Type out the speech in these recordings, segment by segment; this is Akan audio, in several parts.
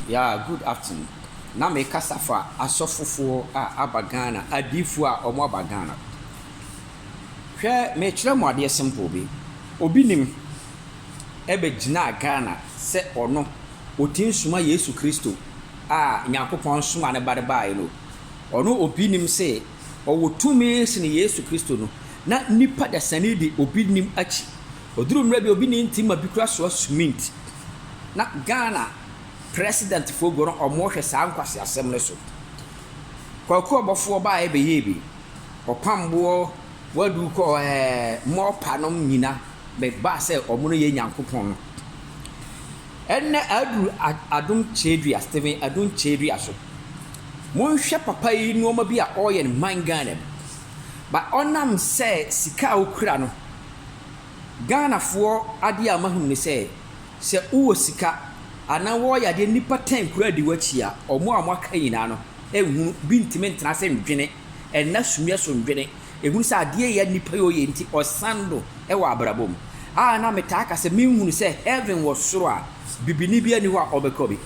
Yeah good afternoon na me kasa fa asɔfo foɔ a aba Ghana adiifoɔ a ɔmo aba Ghana hwɛ me kyerɛ mo adeɛ simple bi obi nim ɛbɛ gyinaa Ghana sɛ ɔno ɔtim soma Yesu Kristo a Nyankopɔn soma ne ba de baaɛ no ɔno obi nim se ɔwɔ tumi sene Yesu Kristo no na nipa dasani de obi nim akyi ɔduru mmerɛ bi obi ne nti ma bi kura soa sumint. na Ghana president foɔ gu no ɔmo hwɛ saa nkwaseasɛm no so. Kwaku ɔbɔfoɔ baeɛ bɛyɛɛ bi, ɔpam boɔ wadu kɔ ɛɛ mɔɔpa nom nyina bɛbaa sɛ ɔmo no yɛ Nyankopɔn no. Ɛnnɛ aduru Adom Kyerɛdua, Stephen Adom Kyerɛdua so. Monhwɛ papa yi nnoɔma bi a ɔɔyɛ no man Ghana mu, but ɔnam sɛ sika a ɔkura no, Ghanafoɔ adeɛ a mahunu ne sɛ, sɛ wowɔ sika anaa wɔɔyɛ adeɛ nnipa ten koraa di w'akyi a, wɔn a wɔaka nyinaa no nhunu bi ntumi ntena ase ndwene, nna sumiɛ so ndwene, nhunu sɛ adeɛ yɛ a nnipa yɛ ɔyɛ nti ɔsan no wɔ abrabɔ mu. A na metaa ka sɛ menhunu sɛ heaven wɔ soro a bibini biara nni hɔ a ɔbɛkɔ bi.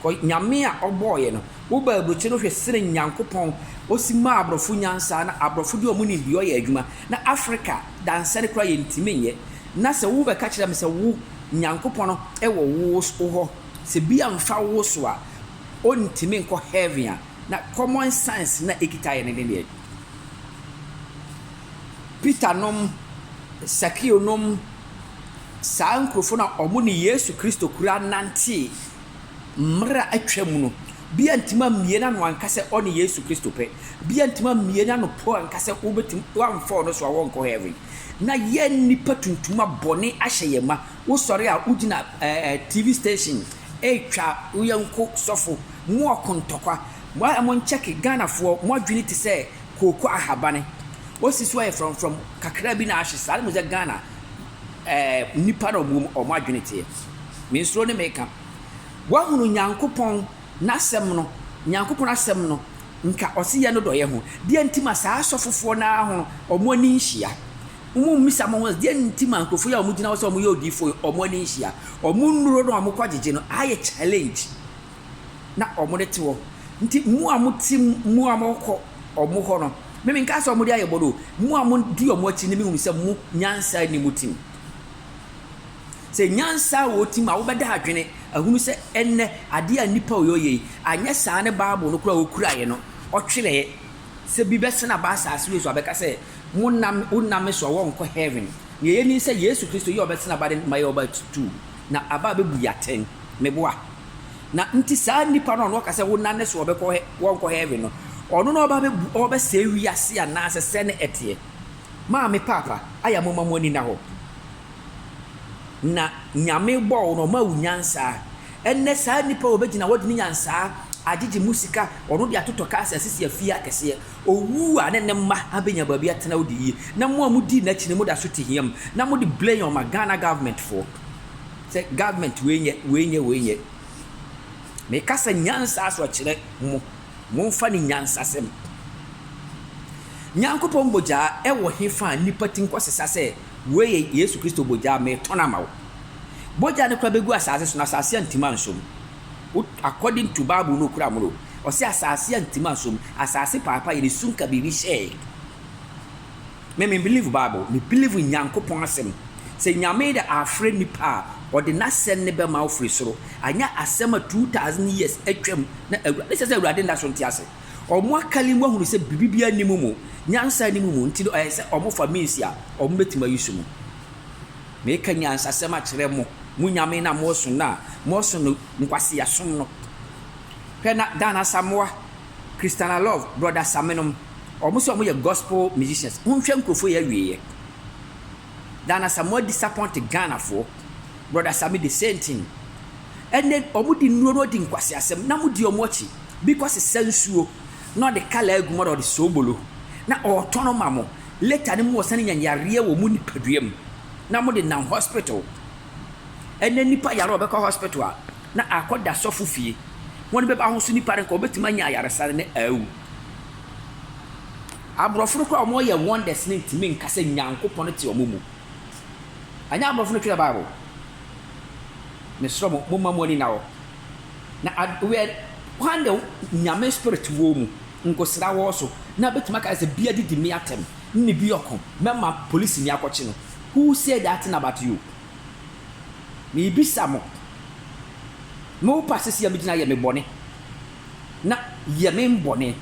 Kɔ Nyame a ɔbɔɔ yɛ no. Wo ba aburokyi no hwɛ sene Nyankopɔn ɔsi maa abrɔfo nyansa na abrɔfo de ɔmo nimdeɛ ɔyɛ adwuma na Africa dansɛne koraa yɛntimi nyɛ na sɛ wo bɛka kyerɛ me sɛ wo Nyankopɔn wɔ wo hɔ sɛ bi amfa wo so a ɔntimi nkɔ heaven a na common sense na ɛkita yɛ ne ne deɛ Peter nom Sakeo nom saa nkurofo no a ɔmo ne Yesu Kristo koraa nantee Mmere a atwa mu no, bi antumi ammue n'ano anka sɛ ɔne Yesu Kristo pɛ. Bi antumi ammue n'ano po anka sɛ wobetumi, wɔamfa ɔno so a wɔrenkɔ heaven. Ná yɛn nnipa tuntum a bɔne ahyɛ yɛn ma. Wosɔre a, wugyina ɛɛ TV station retwa wo yɔnko sɔfo. Mowɔ ko ntɔkwa. Mo a monkyɛke, Ghanafoɔ, mo adwene te sɛ kooko ahabane. Wɔasi so ayɛ frɔmfrɔm. Kakraa bi na ahye saa. Ɛna mo sɛ Ghana. Ɛɛ, nnipa na wɔn wɔn adwene teɛ. Me nsuro ne meka. Woahunu Nyankopɔn n'asɛm no, Nyankopɔn asɛm no, nka ɔse yɛ no dɔyɛ ho. Deɛ nti ma saa asɔfofoɔ no ara ho wɔn ani nhyia? Mo mmisa mo ho, deɛ nti ma nkurɔfoɔ yi a wɔgyina hɔ sɛ wɔyɛ odiyifoɔ yi wɔn ani nhyia? Wɔn nnuro no a wɔkɔ agyegye no ayɛ challenge na wɔde te hɔ. Nti mo a mote mu a mokɔ wɔn hɔ no, me menkaa sɛ wɔde ayɛ bɔne o, mo a modi wɔn akyi no mehunu sɛ mo nyansa nni mo tirim. Sɛ nyansa wɔ wo tirim a, wobɛda adwene ahunu sɛ ɛnnɛ adeɛ a nnipa reyɛ yei, anyɛ saa ne Bible no koraa a wɔkuraeɛ no, wɔtwerɛeɛ sɛ bi bɛsane aba asase wei so abɛka sɛ, Monna me, wonna me so a wɔrenkɔ heaven. Nea ɛyɛ ni sɛ Yesu Kristo yi a ɔbɛsane aba no ma yɛn ɔba atuu. Na aba bɛbu yɛ atɛn. Me boa. Na nti saa nipa no a ɔno ɔka sɛ wonam ne so ɔbɛkɔ hɛ wɔnkɔ hɛɛven no, ɔno na ɔba bɛbu ɔbɛsɛe wiase anaasɛ sɛn na ɛteɛ? Maa me paapa ayɛ a momma mo ani nna hɔ. Na Nyame bɔɔ wo no ɔmaa wo nyansaa. Ɛnnɛ saa nipa a ɔbɛgyina hɔ de ne nyansaa agyegye mu sika ɔno de atotɔ cars asisi afie akɛseɛ, Owu a ne ne mma abenya baabi atena odi yie na mo a mo dii nakyi no mo da so te hia mu na mo de blame ma Ghana government foɔ sɛ government wei nyɛ wei nyɛ wei nyɛ me ka sɛ nyansa so kyerɛ mo mo nfa ne nyansa sɛm Nyankopɔn bogyaa ɛwɔ he fa a nipa ti nkɔ sesa sɛ wei yɛ Yesu Kristo bogyaa me tɔn ama wo bogya no kora bɛ gu asaase so na asaase antim ansom. Wo according to bible no okura moro ɔse asase antim ansom asase paapa yɛde su nka biribi hyɛɛ me me believe bible me believe nyankopɔn asɛm sɛ nyame de afrɛ nipa a ɔde n'asɛm ne bɛma wo firi soro anyɛ asɛm a 2000 years atwam na awura ne sɛ sɛ awurade nda so nte ase ɔmo akali mu ahunu sɛ biribi biara ni mu mu nyansa ni mu mu nti no ɛyɛ sɛ ɔmo fa means a ɔmo bɛtumi ayi so mu. Meka nyansasɛm akyerɛ mo, mo nyame na moɔso no a, moɔso no nkwasea som no. Hwɛ na Dan Asamoah, Christiana Love, Brother Same nom, ɔmo sɛ ɔmo yɛ gospel musicians, monhwɛ nkurofo yɛ awieɛ. Dan Asamoah disappoint Ghanafoɔ, Brother Same the same thing. Ɛnɛ ɔmo di nnuro na ɔdi nkwaseasɛm na mo di ɔmo akyi, bi kɔ sesa nsuo na ɔde colour agu mu na ɔde sobolo na ɔɔtɔn ma mo. Later no mo wɔ sane nya yareɛ wɔ mo nipadua mu na mo de nam hospital. Ɛnɛ nipa yare a ɔbɛkɔ hospital a na akɔ da sɔfo fie. Wɔn bɛba ho so nipa no nka ɔbɛtumi anya ayaresane na awu. Aborɔfo no koraa a wɔn yɛ wonders no ntumi nka sɛ Nyankopɔn te wɔn mu. Ɛnyɛ aborɔfo no twerɛ bible. Mesrɛ mo mo mma mo ani nna hɔ. Na where hwan na Nyame spirit wɔ mu? Nkosra wɔ so na bɛtumi aka sɛ bi adidi me atɛm nne bi ɔko mɛma polisini akɔkye no who said that thing about you meebisa mo me wo pa sesei a me gyina yɛ me bɔne na yɛ me mbɔne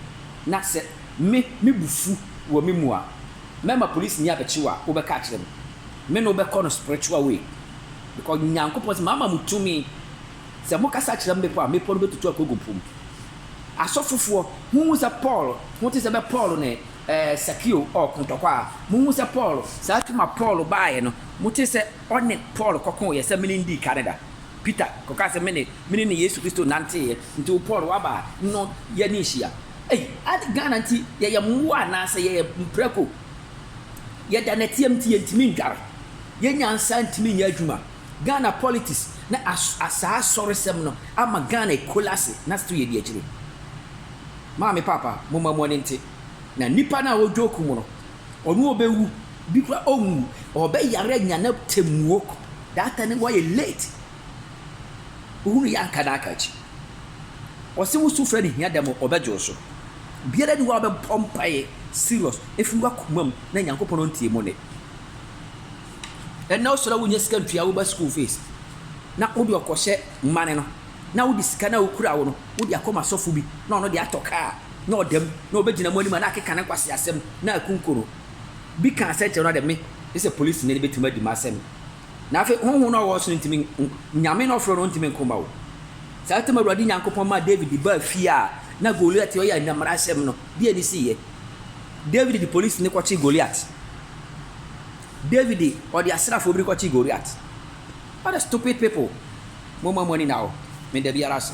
na sɛ me me bu fu wɔ me mu a mɛma polisini abɛkye wo a wo bɛka akyerɛ me me ne wo bɛkɔ no spiritual way because Nyankopɔn sɛ maama mo tumi Sɛ mokasa kyerɛ mmepɔ a, mmepɔ no bɛtutu akɔgu po mu. Asɔfofoɔ, monhu sɛ Paul ho te sɛ bɛ Paul ne eh, Sakeo ɔɔko ntɔkwa a, monhu sɛ Paul, saa tumi a Paul baeɛ no, mote sɛ ɔne Paul kɔkoeɛ sɛ mene ndii kane da. Peter kɔkaa sɛ mene, mene ne Yesu Kristo nanteeɛ, nti wo Paul woaba a, no yɛne nhyia. Ei, ade Ghana nti yɛyɛ mmoa anaa sɛ yɛyɛ mprako? Yɛda nɛteɛ nti yɛntumi ndware, yɛn nyansa ntumi nyɛ adwuma. Ghana politics ne saa asɔresɛm no ama Ghana ekolase na still yɛdi akyire. Maame paapa moma mu ani nte na nipa no a ɔdwoke mu no ɔno ɔbɛwu bi kora ɔnwu ɔbɛyare anya na temuo that time no wayɛ late wohunu yɛ anka na aka akyi ɔse wo sufrɛ no hia dɛm ɔbɛgye wo so biara ni hɔ a ɔbɛbɔ mpaeɛ serious ɛfiri wakoma mu na Nyankopɔn ɔntie mu ne Ɛnna wosɔre a wunnya sika ntua wo ba sukuu fees, na wode ɔkɔhyɛ mmane no, na wode sika no a wokura wo no wode akɔma asɔfo bi, na ɔno de atɔ kaa, na ɔda mu, na obegyina mo anim a na akeka ne nkwaseasɛm, na akunkum no. Bi kaa sɛnkyerɛw no ara dɛ, Me ne sɛ polisini no betumi adi m'asɛm. Na afei honhom no a ɔwɔ ɔsoro no ntumi, Nyame no a ɔfrɛ no no ntumi nko mma wo. Saa ntam Awurade Nyankopɔn maa David baa fie a na Goliat a ɔyɛ Nna mmarahyɛm no deɛ no siiɛ. David de polisini kɔkyee Goliat. David de ɔde asrafoɔ bi rekɔkye Goliat. What a stupid people, momma mo ani nna hɔ, meda biara ase.